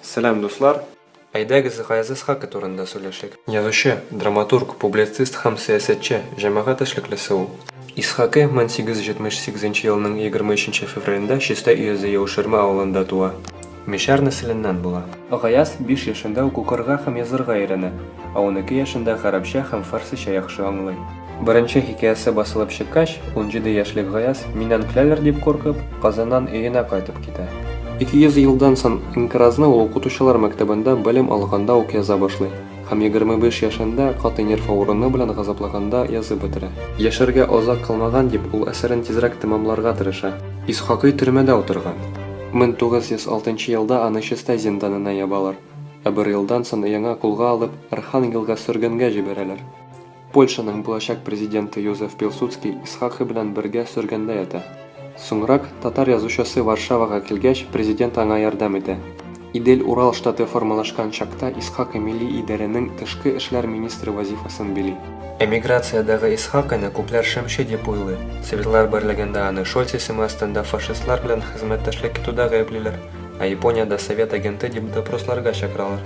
Сәлам, дуслар! Әйдәгез, Гаяз Исхакый турында сөйләшик. Язучы, драматург, публицист һәм сәясәтче, җәмәгать эшлеклесе ул. Исхакый 1878 елның 23 февралендә Чистай өязе Яуширма авылында туа. Мишәр нәселеннән була. Гаяз биш яшендә үк укырга һәм язырга өйрәнә, ә унике яшендә гарәпчә һәм фарсича яхшы аңлый. Беренче хикәясе басылып чыккач, унҗиде яшьлек Гаяз, миннән көләләр дип куркып, Казаннан өенә кайтып китә. Ике йөз елдан сон инкыразны ул укытучылар мәктәбендә белем алганда ук яза башлый һәм егерме биш яшендә каты нерв авыруны белән газаплыганда язып бетерә. Яшәргә азак калмаган дип, ул әсәрен тизрәк тәмамларга тырыша. Исхакый төрмәдә утырган. Мең тугыз йөз алтынчы елда аны Чистай зинданына ябалар, ә бер елдан сон яңа кулга алып, Архангелга сөргенгә җибәрәләр. Польшаның булачак президенты Йозеф Пилсудский Исхакый белән бергә сөргендә ята. Соңрак, татар язучысы Варшавага килгәч, президент аңа ярдәм итә. Идель-Урал штаты формалашкан чакта Исхакый милли идарәнең тышкы эшләр министры вазифасын били. Эмиграциядәге Исхакыйны күпләр шымчы дип уйлый. Советлар берлегендә аны Шольц исеме астында фашистлар белән хезмәттәшлек итүдә гаеплиләр. Ә Япониядә совет агенты дип допросларга чакыралар.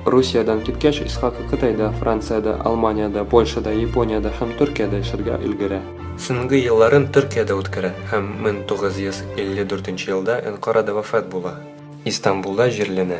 Русиядән киткәч, Исхакый Кытайда, Франциядә, Алманиядә, Польшада, Япониядә һәм Төркиядә эшләргә өлгерә. Соңгы елларын Төркиядә үткәрә һәм 1954 елда Әнкарада вафат була. Истанбулда җирләнә.